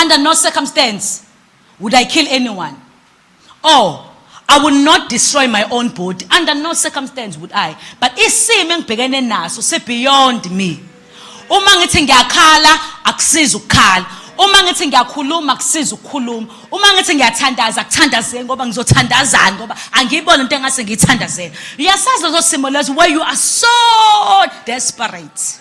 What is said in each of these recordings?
Under no circumstance would I kill anyone. Or I will not destroy my own body. Under no circumstance would I. But isimo engibhekene naso si beyond me. Uma ngithi ngiyakhala akusizi ukukhala. Uma ngithi ngiyakhuluma akusizi ukukhuluma. Uma ngithi ngiyathandaza akuthandazeni ngoba ngizothandazani ngoba angiyibona into engase ngiyithandazeni. Uyasazi lezo simo lezo where you are so desperate.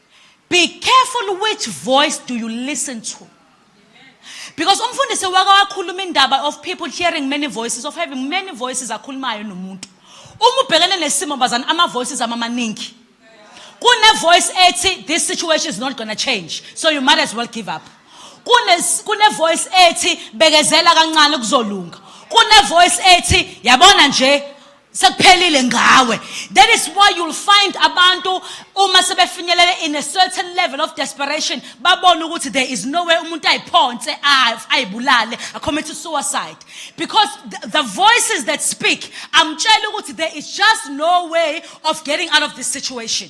Be careful which voice do you listen to. Because umfundisi wake wakhuluma indaba of people hearing many voices, of having many voices akhulumayo nomuntu. Uma ubhekene nesimo bazana ama voices amamaningi. Kune voice ethi this situation is not gonna change, so you might as well give up. Kune kune voice ethi bekezela kancane kuzolunga. Kune voice ethi yabona nje sekuphelile ngawe that is why you'll find abantu uma sebefinyelele in a certain level of desperation babone ukuthi there is no way umuntu ayiphonse ayibulale acommit suicide because the, the voices that speak amtshela ukuthi there is just no way of getting out of this situation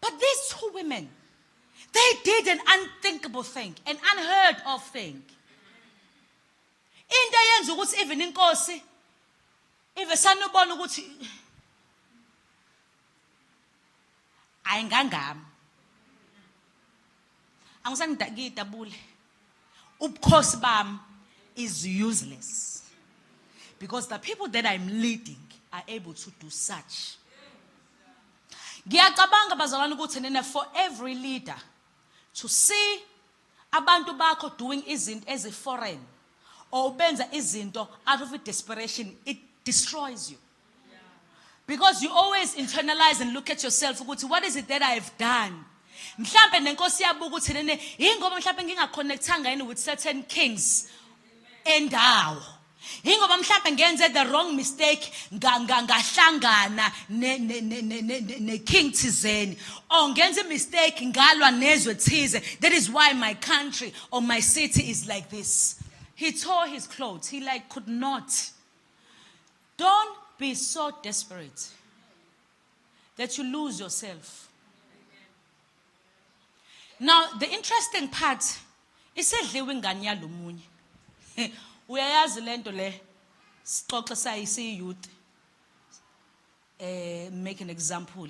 But these two women, they did an unthinkable thing, an unheard of thing. Into eyenza ukuthi even inkosi ive sanubona ukuthi ayingangami angisanidakidabule ubukhosi bami is useless because the people that I'm leading are able to do such. Ngiyacabanga bazalwane ukuthi nina for every leader to see abantu bakho doing izinto ezi foreign or ubenza izinto out of desperation it destroys you. because you always internalize and look at yourself ukuthi what is it that i have done mhlambe nenkosi yabuka ukuthi nene yingoba mhlambe ngingaconnectanga yini with certain kings endawo yingoba mhlambe ngenze the wrong mistake ngahlangana ne-king thizeni or ngenze imistake ngalwa nezwe thize that is why my country or my city is like this he tore his clothes he like could not Don't be so desperate that you lose yourself. Now the interesting part isedliwe ingane yalomunye. Uyayazi lento le sixoxe sayisi youth eh make an example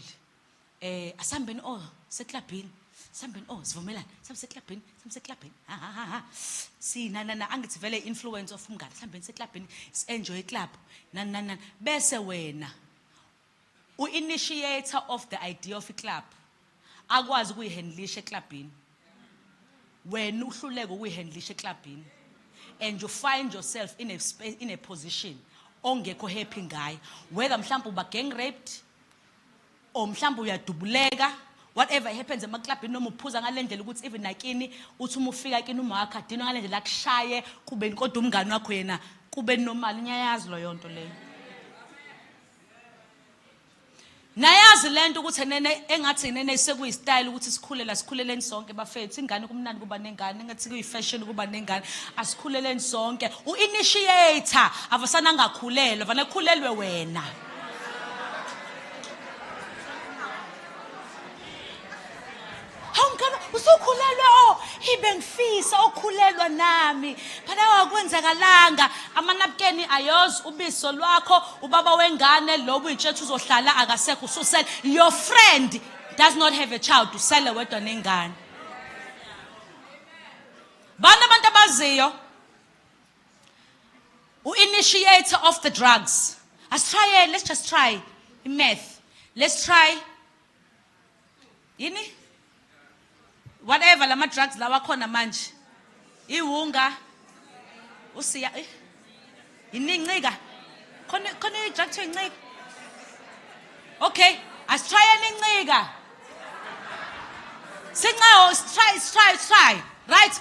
Eh asambeni oh seklabhini. Sambeni oh sivumelana. Sambe seklabhini, sambe seklabhini. Ha ha ha ha. Si na na na angithi vele influence of umngane. Sambeni seklabhini, enjoy club. Na na na bese wena u initiator of the idea of club. Akwazi kuyihandlisha eklabhini. Wena uhluleke ukuyihandlisha eklabhini. And you find yourself in a space in a position ongekho happy ngayo. Whether mhlawumbe uba gang raped or mhlawumbe uyadubuleka whatever happens emaklabhini noma uphuza ngale ndlela ukuthi even nakini uthi uma ufika kini uma wakho adinwe ngale ndlela akushaye kubeni kodwa umngane wakho yena kube normal ngiyayazi loyo nto leyo nayazi le nto ukuthi nene engathi nene sekuyistyle ukuthi sikhulela sikhuleleni sonke bafethu ingane kumnandi kuba nengane engathi kuyifashion kuba nengane asikhuleleni sonke u-initiator avasana angakhulelwa vane khulelwe wena usukhulelwe o oh, ibe ngifisa okhulelwa nami phana wakwenzakalanga amanabukeni ayozi ubiso lwakho ubaba wengane lo buyitshetha uzohlala akasekho ususele your friend does not have a child usele wedwa nengane bani abantu abaziyo u-initiator of the drugs asitryele let's just try i-math let's try yini whatever lama drugs lawa khona manje iwunga usiya eh, yininqika khona khona i-drug to incika okay asitryele incika sincawo sitry sitry sitry right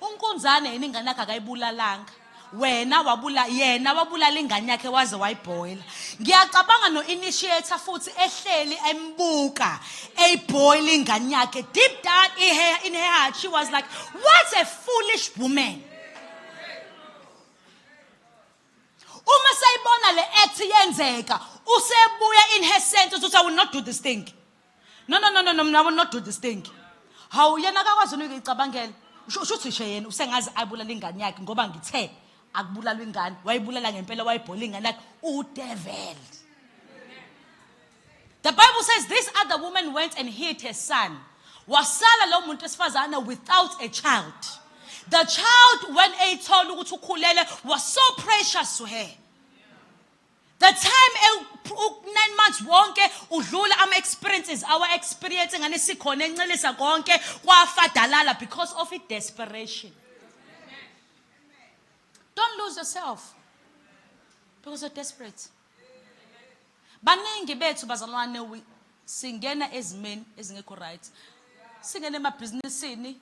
Unkunzane yini ingane yakhe akayibulalanga wena wabula yena wabulala ingane yakhe waze wayibhoyila ngiyacabanga no-initiator futhi ehleli embuka eyibhoyila ingane yakhe deep down in her, in her heart she was like what a foolish woman uma sayibona le act yenzeka usebuya in her sense uthi i will not do this thing No no no no no mna will not do this thing. Hawu yena akakwazi unuke icabangela. Usho usho ukuthi nje yena usengazi ayibulala ingane yakhe ngoba ngithe akubulalwa ingane wayibulala ngempela wayibhola ingane yakhe udevil. The Bible says this other woman went and hid her son. Wasala lo muntu esifazana without a child. The child when eyithola ukuthi ukhulele was so precious to her. The time u-nine months wonke udlula ama-experiences awa-experience ngane sikhona encelisa konke kwafadalala because of i-desperation don't lose yourself because you're desperate baningi bethu bazalwane singena ezimeni ezingekho right singena emabhizinisini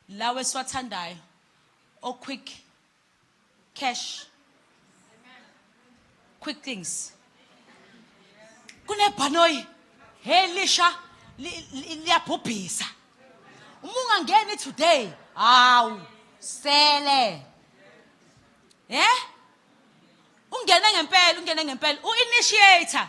lawo esiwathandayo o-quick Cash. Quick things. Kunebhanoyi helisha liyabhubhisa. Uma ungangeni today, hawu sele. Eh? Ungene ngempela, ungene ngempela. U-initiator.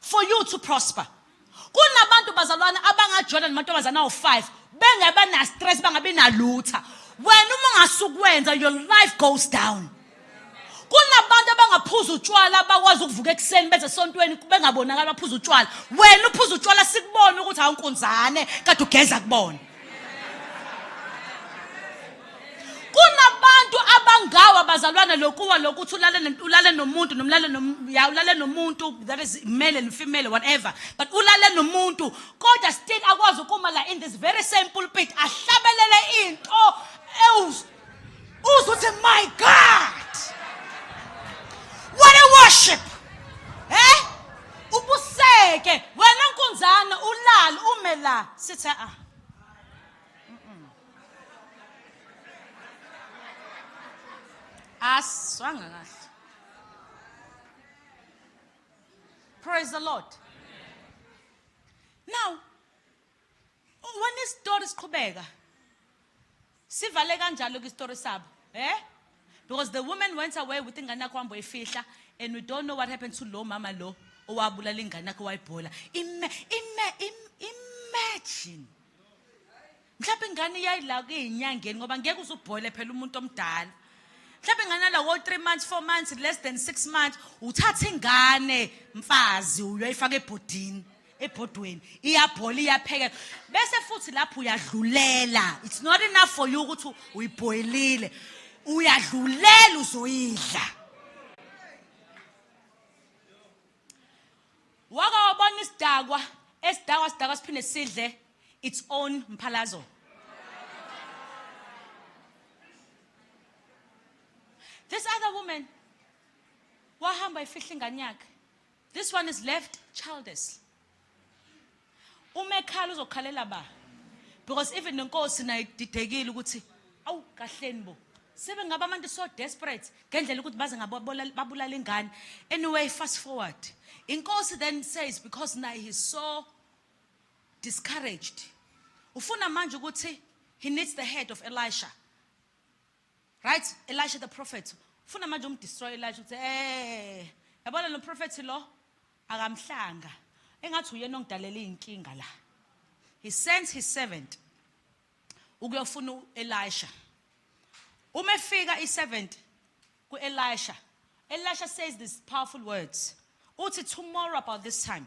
for you to prosper kunabantu bazalwane abangajola namantombazane awu-five bengabe na-stress bangabi nalutha wena uma ungasukwenza your life goes down kunabantu abangaphuza utshwala abakwazi ukuvuka ekuseni beze esontweni bengabonakali baphuza utshwala wena uphuza utshwala sikubona ukuthi awunkunzane kade ugeza kubona kunabantu abangawa bazalwana lokuwa lokuthi ulale ulale nomuntu nomlale ya ulale nomuntu that is male and female whatever but ulale nomuntu kodwa still akwazi ukuma la in this very same pulpit ahlabelele into uzothi my god what a worship eh ubuseke wena nkunzana ulal ume la sithe ah aswanga kahle praise the lord now When isitori siqhubeka sivale kanjalo ke isitori sabo eh because the woman went away with ingane yakho hamba uyifihla and we don't know what happened to lo mama lo owabulala ingane yakho wayibhola ime ime imagine mhlawumbe ingane iyayila kuyinyangeni ngoba ngeke uzubhoyile phela umuntu omdala mhlawumbe ingane lawo 3 months 4 months less than 6 months uthatha ingane mfazi uyoyifaka ebhodini ebhodweni iyabhola iyaphekela bese futhi lapho uyadlulela it's not enough for you ukuthi uyibhoyilile uyadlulela uzoyidla waka wabona isidakwa esidakwa sidakwa siphinde sidle its own mphalazo this other woman wahamba ifihla ingane yakhe This one is left childless. Uma ekhala uzokhalela ba. Because even nenkosi nayo ididekile ukuthi awu kahleni bo. Sebengaba abantu so desperate ngendlela ukuthi baze ngababulala ingane. Anyway fast forward. Inkosi then says because naye he's so discouraged. Ufuna manje ukuthi he needs the head of Elisha. Right Elisha the prophet ufuna manje um destroy Elisha ukuthi eh yabona lo prophet lo akamhlanga engathi uyena ongidalela izinkinga la he sends his servant ukuyofuna uElisha uma efika i7 kuElisha Elisha says these powerful words uthi tomorrow about this time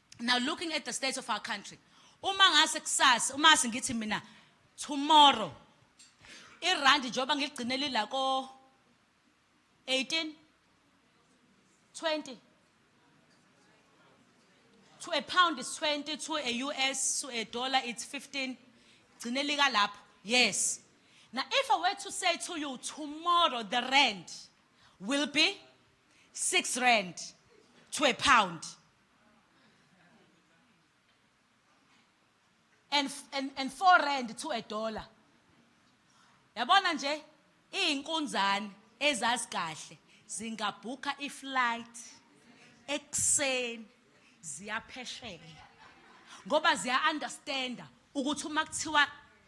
now looking at the state of our country uma ngase kusasa uma ngase ngithi mina tomorrow irandi njengoba ngiligcine lila ko 18 20 to a pound is 20 to a US to a dollar it's 15 gcine lika lapho yes now if i were to say to you tomorrow the rand will be 6 rand to a pound and and and 4 rand to a dollar yabona nje izinkunzane ezazi kahle zingabhukha iflight ekuseni ziyaphesheya ngoba ziya understanda ukuthi uma kuthiwa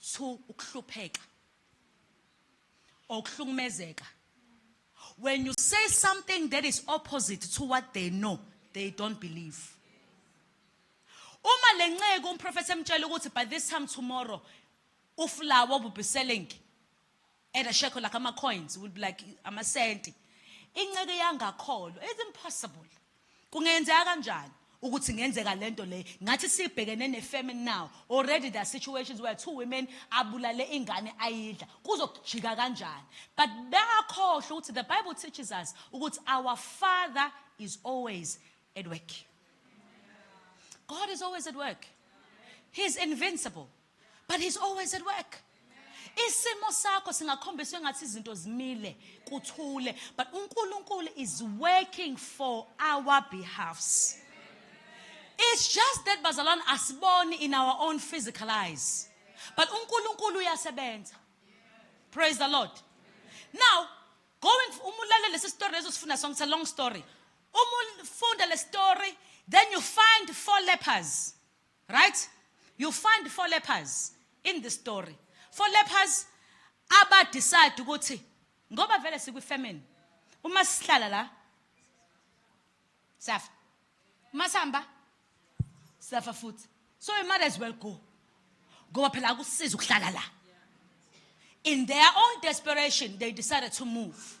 Two ukuhlupheka or ukuhlukumezeka when you say something that is opposite to what they know they don't believe uma lenceku umprofethi emtshela ukuthi by this time tomorrow ufulawa will be selling Add a shekel like ama coins will be like amasenti. Inceke yangakholwa it's impossible. Kungenzeka kanjani? ukuthi ngenzeka lento le ngathi sibhekene nefamine now already there are situations where two women abulale ingane ayidla kuzokujika kanjani but bayakhohlwa ukuthi the bible teaches us ukuthi our father is always at work god is always at work he is invincible but he's always at work isimo sakho singakhombisa engathi izinto zimile kuthule but uNkulunkulu is working for our behalfs it's just that bazalwane asiboni in our own physical eyes but uNkulunkulu uyasebenza praise the lord now going uma ulalele lesi story leso sifunda sonke it's a long story uma ufunda le story then you find four lepers Right? You find four lepers in the story. Four lepers aba decide ukuthi ngoba vele sikwi famine uma sihlala la safa masamba safa futhi so you might as well go ngoba phela akusiza ukuhlala la in their own desperation they decided to move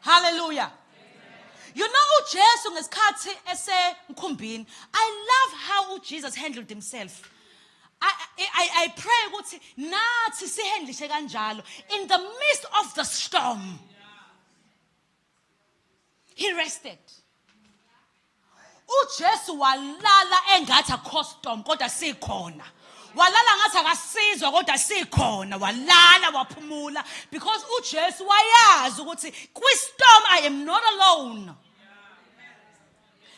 Hallelujah. You know uJesu ngesikhathi esemkhumbini. I love how Jesus handled himself. I, I, I pray ukuthi nathi sihendlishe kanjalo in the midst of the storm. He rested. uJesu walala engathi akho storm kodwa sikhona walala ngathi akasizwa kodwa sikhona walala waphumula because uJesu wayazi ukuthi kwi storm i am not alone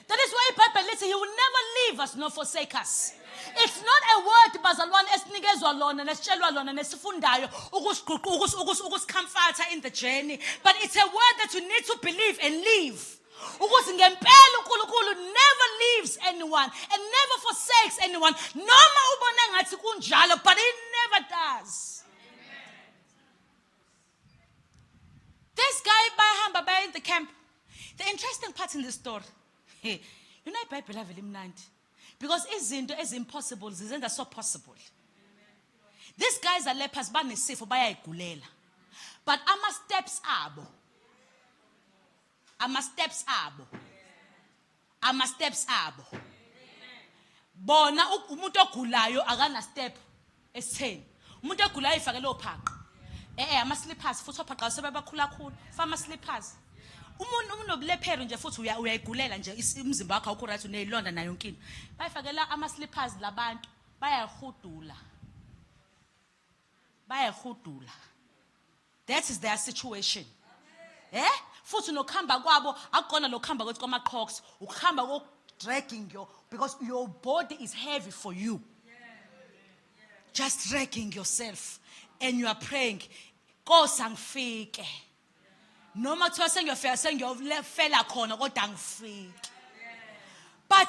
That is why iBhayibheli lithi he will never leave us nor forsake us. It's not a word bazalwane esinikezwa lona nesitshelwa lona nesifundayo ukusigquqa ukusikhamfatha in the journey but it's a word that you need to believe and live. ukuthi ngempela uNkulunkulu never leaves anyone and never forsakes anyone noma ubona ngathi kunjalo but he never does this guy bayahamba baya in the camp the interesting part in the story you know ibhayibheli avele imnandi because izinto ezimpossible zizenza so possible these guys are lepers banesifo bayayigulela but ama steps abo ama steps abo ama steps abo bona umuntu ogulayo akana step esitheni umuntu ogulayo ifakele ophaqa eh, eh ama slippers futhi ophaqa sebebakhula khulu fama slippers umuntu unobulephero nje futhi uyayigulela nje umzimba wakho awukho right uneyilonda nayo inkinto bayifakela ama slippers labantu bayahudula bayahudula that is their situation eh futhi nokuhamba kwabo akukona lokuhamba kwethu kwamaqhoks ukuhamba kodragging your because your body is heavy for you just dragging yourself and you are praying nkosi angifike noma kuthiwa sengiyofika sengiyofela khona kodwa angifike but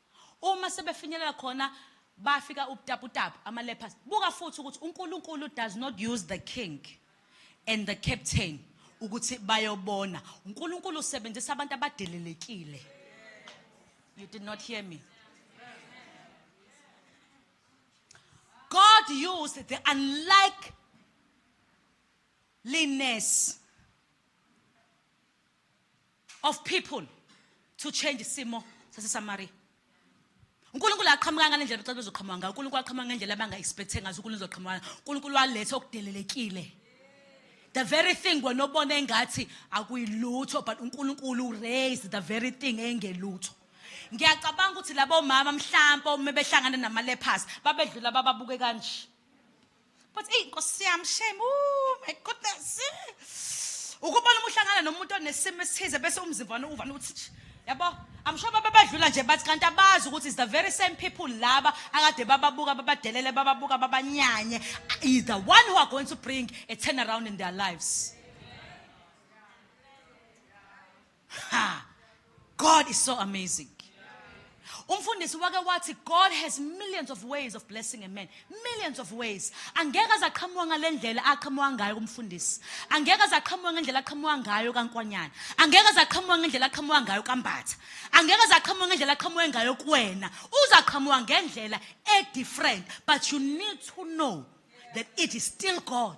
Uma sebefinyelela khona bafika ubutaputapu, ama lepers. Buka futhi ukuthi uNkulunkulu does not use the king and the captain ukuthi bayobona. UNkulunkulu usebenzisa abantu abadelelekile. You did not hear me. God used the unlikeliness of people to change isimo saseSamaria. uNkulunkulu aqhamuka ngalendlela bacela bezoqhamuka ngayo uNkulunkulu aqhamuka ngendlela abanga expect ngazo uNkulunkulu uzoqhamuka uNkulunkulu waletha okudelelekile the very thing wena obona engathi akuyilutho but uNkulunkulu raise the very thing engelutho ngiyacabanga ukuthi labo mama mhlawumbe uma behlangana namalephasi babedlula bababuke kanje But eyi nkosi yami shame oh my goodness. Ukubona uma uhlangana nomuntu onesimo esithize bese umzimba wani uvana ukuthi yabo I'm sure baba badlula nje bathi kanti abazi ukuthi is the very same people laba akade bababuka babadelele bababuka babanyanye is the one who are going to bring a turnaround in their lives. Ha! God is so amazing. Umfundisi wake wathi God has millions of ways of blessing a man. Millions of ways. Angeke azaqhamuka ngalendlela aqhamuka ngayo kumfundisi. Angeke azaqhamuka ngendlela aqhamuka ngayo kankwanyana. Angeke azaqhamuka ngendlela aqhamuka ngayo kambatha. Angeke azaqhamuka ngendlela aqhamuka ngayo kuwena. Uzaqhamuka ngendlela e different but you need to know that it is still God.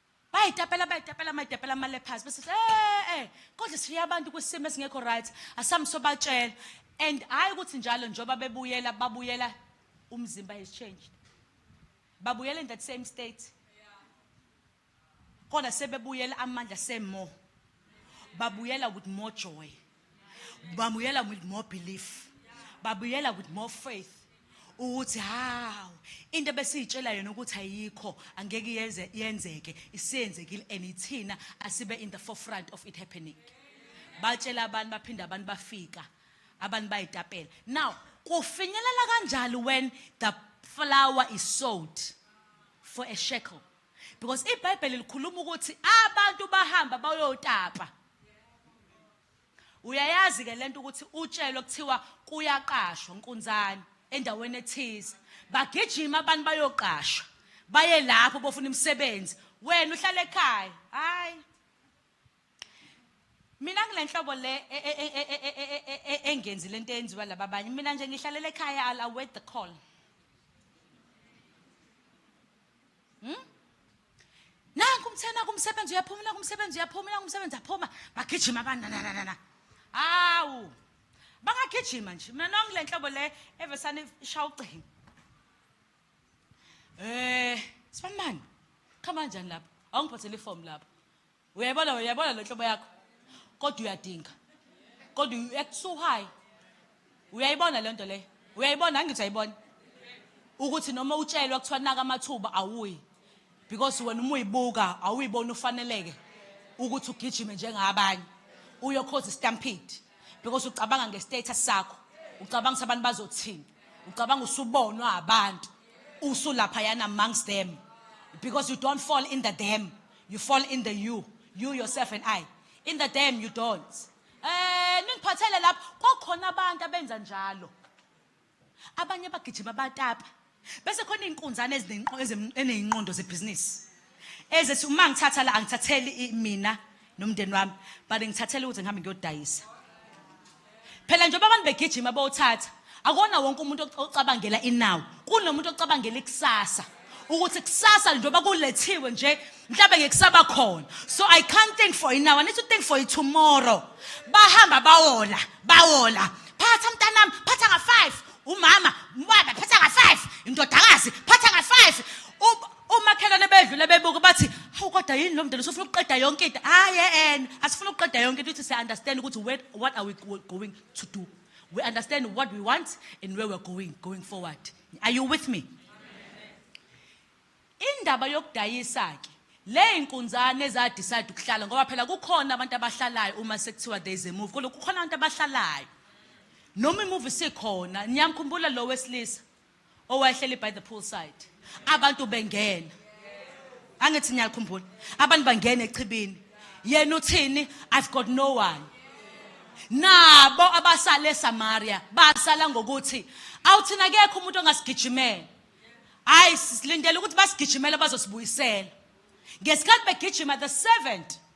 bayitapela bayitapela mayitapela amale phansi bese eh eh kodwa sifiya abantu kwisimo esingekho right asami sobatshela and hayi ukuthi njalo njoba bebuyela babuyela umzimba has changed babuyela in that same state kodwa sebebuyela amandla same more babuyela with more joy bamuyela with more belief babuyela with more faith ukuthi hawu into besiyitshela yona ukuthi ayikho angeke yenze yenzeke isiyenzekile and ithina asibe in the forefront of it happening batshela abantu baphinda abantu bafika abantu bayitapela now kufinyelela kanjalo when the flower is sold for a shekel Because ibhayibheli likhuluma ukuthi abantu bahamba bayotapa. Uyayazi ke lento ukuthi utshelwe kuthiwa kuyaqashwa nkunzane endaweni ethize. Bagijima abantu bayoqashwa. Baye lapho bofuna imisebenzi. Wena uhlala ekhaya. Hayi. Mina ngilenhlobo le engenzi lento eyenziwa laba abanye. Mina nje ngihlalela ekhaya I'll await the call. Hmm? Nanku umthena kumsebenzi uyaphuma, nanku umsebenzi uyaphuma, nanku umsebenzi aphuma, bagijima abantu na na na. Awu. Bangagijima nje. Mina nongilenhlobo le evesane ishawa ugcingo. Eh, sibamani? Khama kanjani lapha? Awungiphathele iform lapha. uyayibona wena uyayibona le nhlobo yakho kodwa uyadinga kodwa you act so high uyayibona le nto leyo uyayibona angithi ayibona ukuthi noma utshelwa kuthiwa naka amathuba awuyi because wena uma uyibuka awuyiboni ufaneleke ukuthi ugijime njengabanye uyokhoza istampede because ucabanga ngestatus sakho ucabanga ukuthi abantu bazothini ucabanga usubonwa abantu usulapha yana amongst them because you don't fall in the dam You fall in the you, you yourself and I. In the dam you don't. Eh ningiphathele lapho kwakhona abantu abenza njalo. Abanye abagijima batapa. Bese khona izinkunzana ezinenqondo zebhizinisi. Ezethi uma ngithatha la angithatheli mina nomndeni wami, but ngithathela ukuthi ngihambe ngiyodayisa. Phela njengoba abantu begijima bowuthatha, akona wonke umuntu ocabangela inawo. Kunomuntu ocabangela ikusasa. Ukuthi kusasa njengoba kulethiwe nje mhlawumbe ngekusaba khona. So I can't think for inawo. I need to think for tomorrow. Bahamba bawola, bawola. Phatha mntanami, phatha nga 5. Umama, ubaba phatha nga 5. Indodakazi phatha nga 5. Umakhelwane bedlula bebuka bathi hawu kodwa yini lo mdala usufuna ukuqeda yonke into. Hayi en asifuna ukuqeda yonke into uthi siya understand ukuthi where what are we go- going to do. We understand what we want and where we're going going forward. Are you with me? Indaba yokudayisa ke le inkunzane eza decide ukuhlala ngoba phela kukhona abantu abahlalayo uma sekuthiwa there is a move kodwa kukhona abantu abahlalayo. Noma imuvi sikhona niyamkhumbula lo wesilisa owayehleli by the pool side abantu bengena angithi niyakhumbula abantu bangena echibini yena uthini i've got no one nabo abasale eSamaria basala ngokuthi awuthina kekho umuntu ongasigijimela hayi silindele ukuthi basigijimele bazosibuyisela ngesikhathi begijima the servant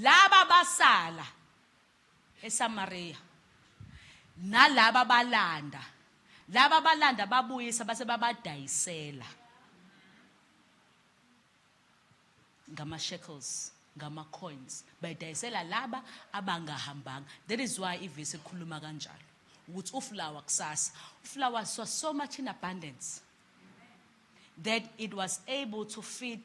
Laba basala eSamariya, nalaba balanda, laba balanda babuyisa base babadayisela ngama-shekels ngama-coins bayidayisela laba abangahambanga that is why ivesi likhuluma kanjalo ukuthi ufulawa kusasa ufulawa saw so much in abundance that it was able to feed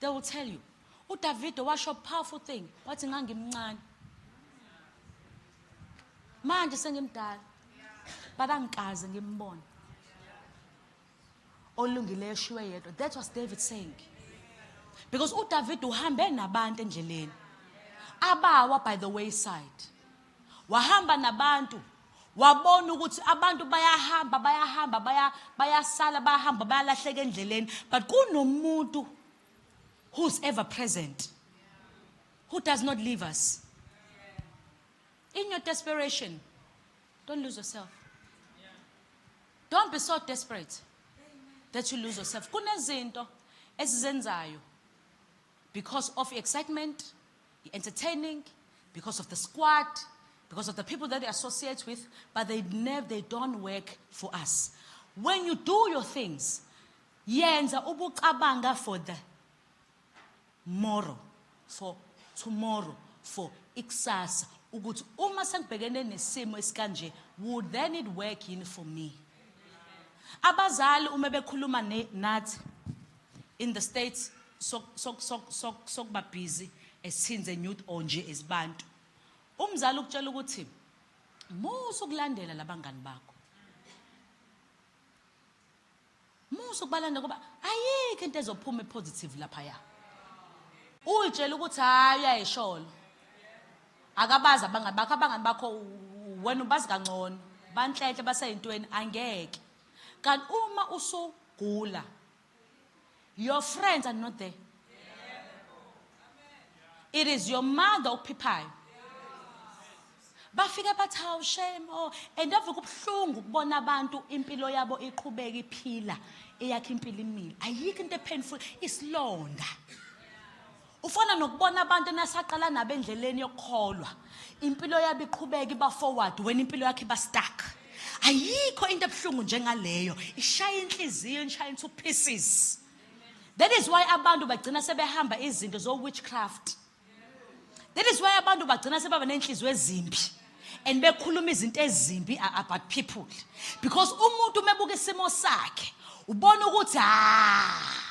They will tell you. UDavido washo powerful thing wathi ngangimncane. Manje sengimdala. But angikaze ngimbone. Olungileyo shiwe yedwa. That was David saying. Because uDavid uhambe nabantu endleleni. Abawa by the wayside. Wahamba nabantu wabona ukuthi abantu bayahamba bayahamba baya bayasala bayahamba bayalahleka endleleni but kunomuntu who's ever present who does not leave us in your desperation don't lose yourself don't be so desperate that you lose yourself kunezinto esizenzayo because of excitement You're entertaining because of the squad, because of the people that you associate with, but they never they don't work for us. When you do your things, yenza ubucabanga for the tomorrow, for tomorrow, for ikusasa ukuthi uma sengibhekene nesimo esikanje would then it work in for me abazali uma bekhuluma nathi In the states sok sok sok sok sokuba busy as teens and youth or nje as bantu. Umzali ukutshela ukuthi musa ukulandela labangani bakho. Musa ukubalanda ngoba ayikho into ezophuma epositive lapha ya. Uyitshela ukuthi hayi ayisholo. Akabaza abangani bakho abangani bakho wena ubazi kangcono. Banhlenhle baseyintweni angeke. Kanti uma usugula your friends are not there. It is your mother okuphiphayo. Bafike bathi hawu shame oh and ave kubuhlungu ukubona abantu impilo yabo iqhubeka iphila eyakhe impilo imile. Ayikho into epainful isilonda. Ufana nokubona abantu enasaqala nabo endleleni yokukholwa. Impilo yabo iqhubeka iba forward wena impilo yakhe iba stuck. Ayikho into ebuhlungu njengaleyo. Ishaya inhliziyo inshaya into pieces. That is why abantu bagcina sebehamba izinto zo witchcraft. That is why abantu bagcina sebaba nenhliziyo ezimbi and bekhuluma izinto ezimbi about people because umuntu umebuka isimo sakhe ubona ukuthi ah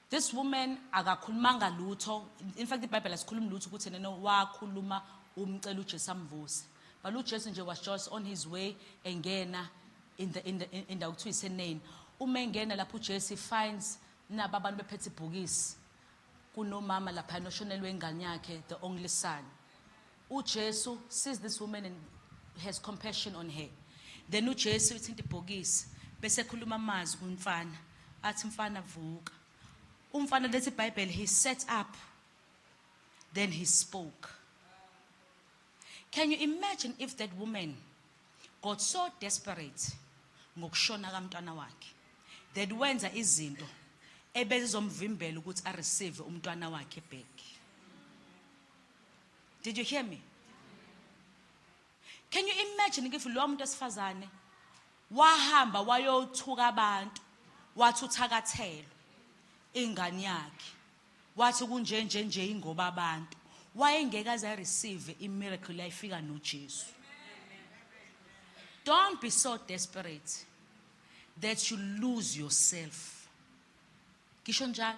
This woman akakhulumanga lutho in fact ibhayibheli asikhulumi lutho ukuthi enene wakhuluma umcela uJesu amvuse but uJesu nje was just on his way engena in the in the in the kuthiwa iseneni uma engena lapho uJesu finds naba abantu bephethe ibhokisi kunomama lapha noshonelwe ingane yakhe the only son UJesu sees this woman and has compassion on her. Then uJesu uthinta ibhokisi bese ekhuluma amazwi kumfana athi mfana vuka. Umfana lethi iBhayibheli he set up then he spoke. Can you imagine if that woman got so desperate ngokushona kamntwana wakhe that wenza izinto ebezizomvimbela ukuthi a receive umntwana wakhe back. Did you hear me? Can you imagine if lowa muntu esifazane wahamba wayothuka abantu wathi uthakathelwe ingane yakhe wathi kunje nje nje ingoba abantu wayengeke aze receive i miracle layifika noJesu Don't be so desperate that you lose yourself. Kisho njalo.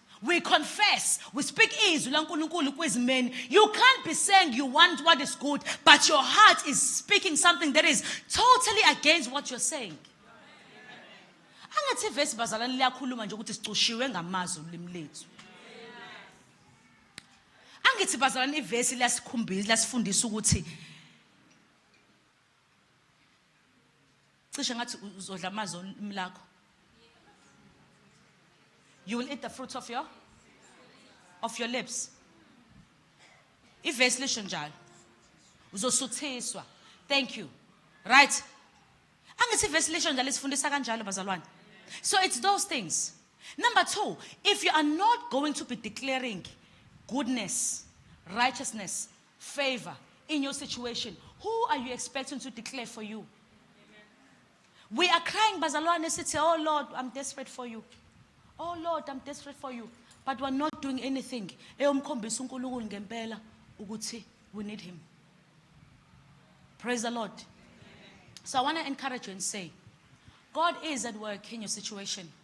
We confess, we speak izwi laNkulunkulu kwizimeni. You can't be saying you want what is good, but your heart is speaking something that is totally against what you're saying. Angathi vesi bazalwane liyakhuluma nje ukuthi sicushiwe ngamazwi ulimi lethu. Angithi bazalwane ivesi lasikhumbisa lasifundisa ukuthi Cishe ngathi uzodla amazi olimi lakho. You will eat the fruit of your of your lips. Ivesi lisho njalo. Uzosuthiswa. Thank you. Right? Angithi ivesi lisho njalo isifundisa kanjalo bazalwane. So it's those things. Number 2, if you are not going to be declaring goodness, righteousness, favor in your situation who are you expecting to declare for you we are crying bazalwane sithi oh lord i'm desperate for you oh lord i'm desperate for you but we're not doing anything eyomkhombisa uNkulunkulu ngempela ukuthi we need him praise the lord so i want to encourage you and say god is at work in your situation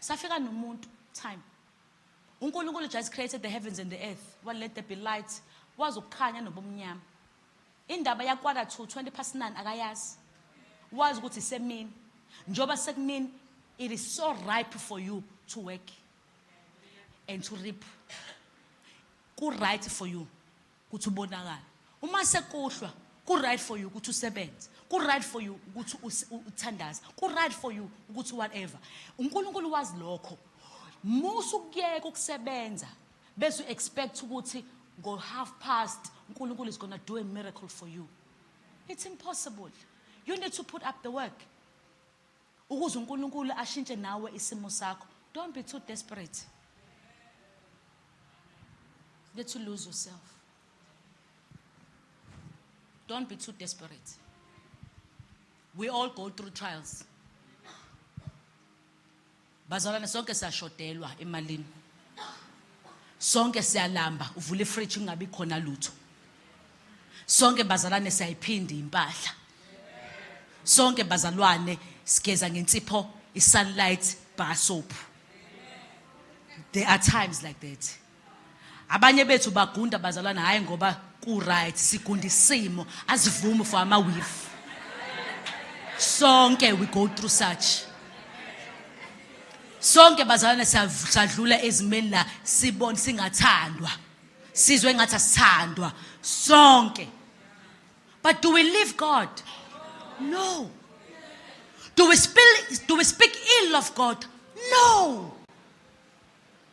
Safika nomuntu time. UNkulunkulu just created the heavens and the earth. Wa let there be light. Wazi ukukhanya nobumnyama. Indaba ya quarter to 20 past 9 akayazi. Wazi ukuthi semini. Njoba sekumini it is so ripe for you to work and to reap. Ku right for you. Ukuthi ubonakale. Uma sekuhlwa, ku right for you ukuthi usebenze. Ku right for you ukuthi uthandaze. Ku right for you ukuthi whatever. UNkulunkulu wazi lokho. Musa ukuyeka ukusebenza bese u expect ukuthi ngo half past uNkulunkulu is going to do a miracle for you. It's impossible. You need to put up the work. Ukuze uNkulunkulu ashintshe nawe isimo sakho don't be too desperate get to lose yourself don't be too desperate we all go through trials Bazalwane sonke siyashodelwa emalini. Sonke siyalamba uvula ifridge kungabi khona lutho. Sonke bazalwane siyayiphinda impahla. Sonke bazalwane sigeza ngensipho isunlight bar soap. There are times like that. Abanye bethu bagunda bazalwana hayi ngoba ku right sigunda isimo azivumi for ama weave. Sonke we go through such. Sonke bazalwane sadlula ezimeni la sibona singathandwa. Sizwe ngathi asithandwa sonke. But do we leave God? No. Do we, spill, do we speak ill of God? No.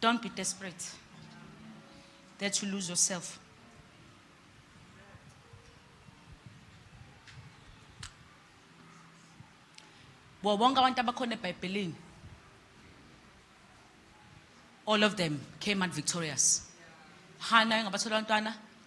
Don't be desperate that you lose yourself. Bo bonke abantu abakhona eBhayibhelini all of them came out victorious. Hana ngabathola abantwana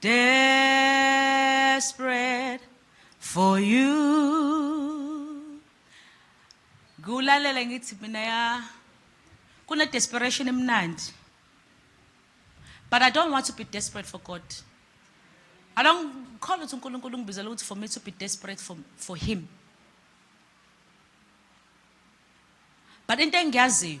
Desperate for you. Ngulalela ngithi mina ya kuna desperation emnandi. But I don't want to be desperate for God. I don't call ukuthi uNkulunkulu ungibizela ukuthi for me to be desperate for for him. But into engiyaziyo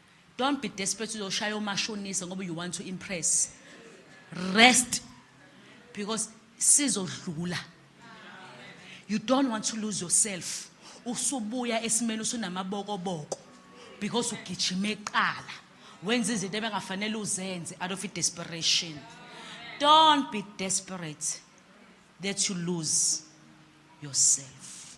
Don't be desperate uzoshaya omashonisa ngoba you want to impress. Rest because sizodlula. You don't want to lose yourself. Usubuya esimeni usunamabokoboko because ugijima eqala. Wenza izinto ebengafanele uzenze out of desperation. Don't be desperate that you lose yourself.